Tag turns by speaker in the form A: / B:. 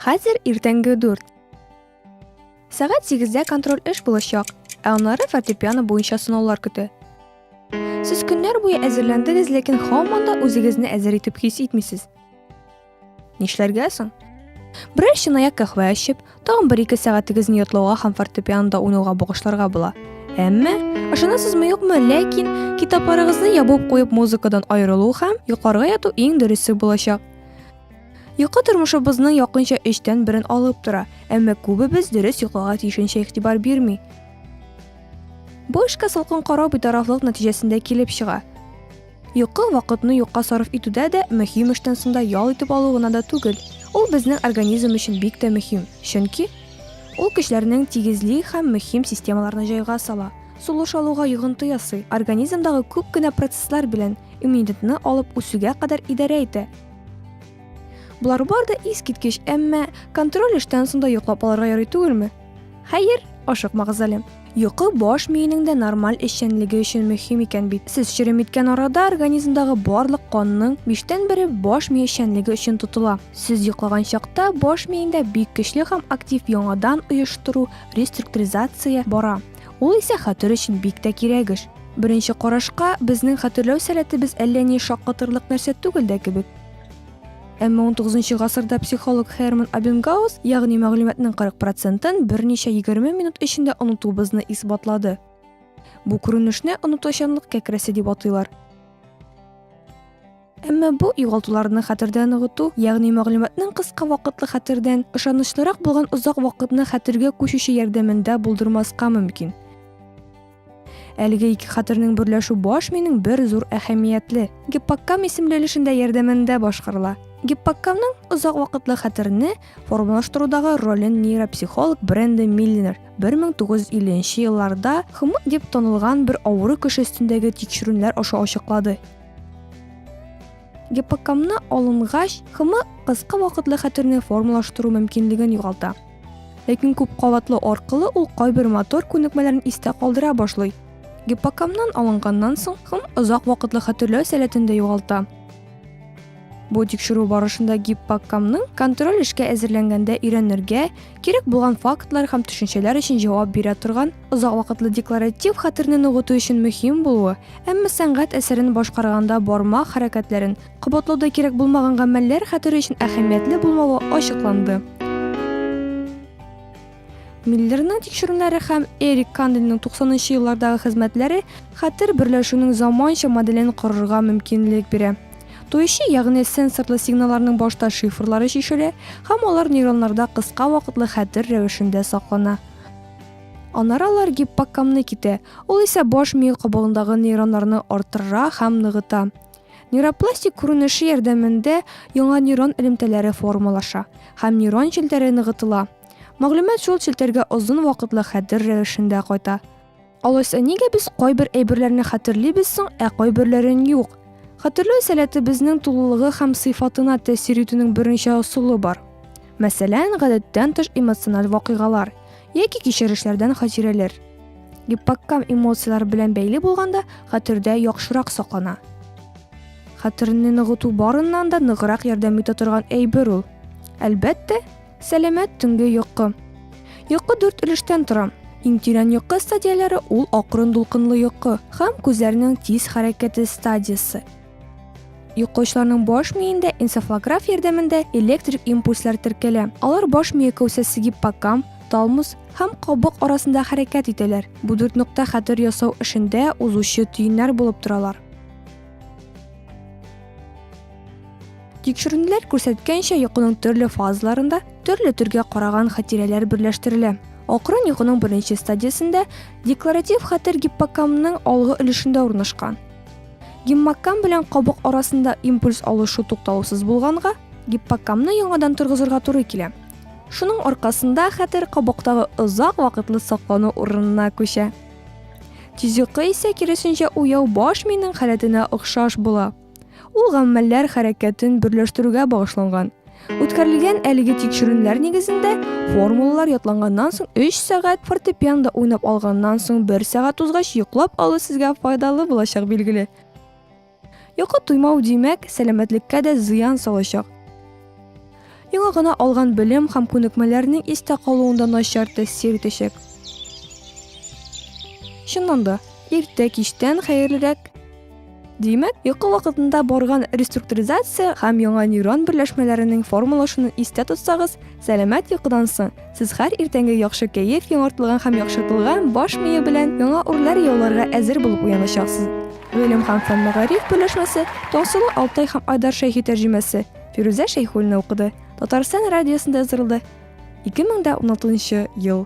A: Хәзер иртәнге 4. Сәгать 8-дә контроль эш булачак, ә аннары фортепиано буенча сынаулар көтә. Сез көннәр буе әзерләндегез, ләкин һаман да үзегезне әзер итеп хис итмисез. Нишләргә соң? Берәр чынаяк кәхвә эчеп, тагын бер ике сәгатегезне йотлауга һәм фортепианода уйнауга багышларга була. Әмма, ышанасызмы юкмы, ләкин китапларыгызны ябып куеп музыкадан аерылу һәм йокларга яту иң дөресе булачак. Йокы тормышыбызның якынча өчтән берен алып тора, әмма күбебез дөрес йокларга тиешенчә игътибар бирми. Бу эшкә салкын карау битарафлык нәтиҗәсендә килеп чыга. Йокы вакытны юкка сарыф итүдә дә мөһим эштән соң да ял итеп алу гына да түгел, ул безнең организм өчен бик тә мөһим, чөнки ул көчләрнең тигезли һәм мөһим системаларны җайга сала, сулыш алуга йогынты ясый, организмдагы күп кенә процесслар белән, иммунитетны алып үсүгә кадәр идарә итә. Болар бар да искиткеч, әмма контроль эштән соң да йоклап алырга ярый түгелме? Хәер, ашыкмагыз әле. Йокы баш миенең дә нормаль эшчәнлеге өчен мөһим икән бит. Сез черем иткән арада организмдагы барлык канның биштән бере баш мие эшчәнлеге өчен тотыла. Сез йоклаган чакта баш миеңдә бик көчле һәм актив яңадан оештыру, реструктуризация, бара. Ул исә хәтер өчен бик тә кирәк эш. Беренче карашка, безнең хәтерләү сәләтебез әллә ни шаккатырлык нәрсә түгел дә кебек. Әмма унтугызынчы гасырда психолог Херман Абенгаус, ягъни мәгълүматның 40 процентын берничә егерме минут эчендә онытуыбызны исбатлады. Бу күренешне онытучанлык кәкрәсе дип атыйлар. Әмма бу югалтуларны хәтердә ныгыту, ягъни мәгълүматның кыска вакытлы хәтердән, ышанычлырак булган озак вакытны хәтергә күчүче ярдәмендә булдырмаска мөмкин. Әлеге ике хәтернең берләшү баш минең бер зур әһәмиятле гиппокам исемле өлешендә ярдәмендә башкарыла. Гиппокамның озак вакытлы хәтерне формалаштырудагы ролен нейропсихолог Бренда Миллинер 1950 елларда хмы дип танылган бер авыру кеше өстендәге тикшерүләр аша ачыклады. Гиппокамны алынгач, хмы кыска вакытлы хәтерне формалаштыру мөмкинлеген югалта. Ләкин күп кабатлы аркылы ул кайбер мотор күнекмәләрен истә калдыра башлый. Гиппокамнан алынганнан соң кым озак вакытлы хәтерләү сәләтен дә югалта. Бу тикшерү барышында гиппокамның контроль эшкә әзерләнгәндә өйрәнергә кирәк булган фактлар һәм төшенчәләр өчен җавап бирә торган, озак вакытлы декларатив хәтерне ныгыту өчен мөһим булуы, әмма сәнгать әсәрен башкарганда бармак хәрәкәтләрен Кабатлауда кирәк булмаган гамәлләр хәтере өчен әһәмиятле булмавы ачыкланды. Миллерның тикшерүләре һәм Эрик Канделинның 90-нчы еллардагы хезмәтләре хәтер берләшүнең заманча моделен корырга мөмкинлек бирә. Тоючы, ягъни сенсорлы сигналларның башта шифрлары чишелә һәм алар нейроннарда кыска вакытлы хәтер рәвешендә саклана. Аннары алар гиппокамны китә, ул исә баш миел кабыгындагы нейроннарны арттыра һәм ныгыта. Нейропластик күренеше ярдәмендә яңа нейрон элемтәләре формалаша һәм нейрон челтәре ныгытыла. Мәгълүмат шул челтәргә озын вакытлы хәтер рәвешендә кайта. Алайса нигә без кайбер әйберләрне хәтерлибез соң, ә кайберләрен юк? Хәтерләү сәләте безнең тулылыгы һәм сыйфатына тәэсир итүнең берничә ысулы бар. Мәсәлән, гадәттән тыш эмоциональ вакыйгалар, Яки кичерешләрдән хатирәләр. Гиппоккам эмоцияләр белән бәйле булганда хәтердә яхшырак саклана. Хәтерне ныгыту барыннан да ныграк ярдәм итә торган әйбер ул. Әлбәттә, сәламәт төнге йокы. Йокы дүрт өлештән тора. Иң тирән йокы стадияләре ул акрын дулкынлы йокы һәм күзләрнең тиз хәрәкәте стадиясе. Йокычларның баш миендә энцефалограф ярдәмендә электрик импульслар теркәлә. Алар баш мие кәүсәсе гиппокамп, талмус һәм кабык арасында хәрәкәт итәләр. Бу дүрт нокта хәтер ясау эшендә узучы төеннәр булып торалар. Тикшеренүләр күрсәткәнчә, йокының төрле фазаларында төрле төргә караган хатирәләр берләштерелә. Акрын йокының беренче стадиясендә декларатив хәтер гиппокамның алгы өлешендә урнашкан. Геммаккам белән кабык арасында импульс алышу туктаусыз булганга, гиппоккамны яңадан торгызырга туры килә. Шуның аркасында хәтер кабыктагы озак вакытлы саклану урынына күчә. Тизюкы исә киресенчә уяу баш миенең халәтенә охшаш була. Ул гаммәлләр хәрәкәтен берләштерүгә багышланган. Үткәрелгән әлеге тикшерүнләр нигезендә формулалар ятланганнан соң 3 сәгать фортепианда уйнап алганнан соң 1 сәгать узгач йоклап алу сезгә файдалы булачак билгеле. Йокы туймау димәк, сәламәтлеккә дә зыян салачак. Яңа гына алган белем һәм күнекмәләрнең истә калуында начар тәэсир итәчәк. Чыннан да, иртә кичтән хәерлерәк Димәк, йокы вакытында барган реструктуризация һәм яңа нейрон берләшмәләренең формалашуын истә тотсагыз, сәламәт йокыдан соң сез һәр иртәнге яхшы кәеф, яңартылган һәм яхшыртылган баш мие белән яңа үрләр яуларга әзер булып уяначаксыз. Гыйлем һәм фән мәгариф берләшмәсе Таңсылу Алтай һәм Айдар Шәйхи тәрҗемәсе Фирүзә Шәйхуллина укыды. Татарстан радиосында яздырылды. 2016 ел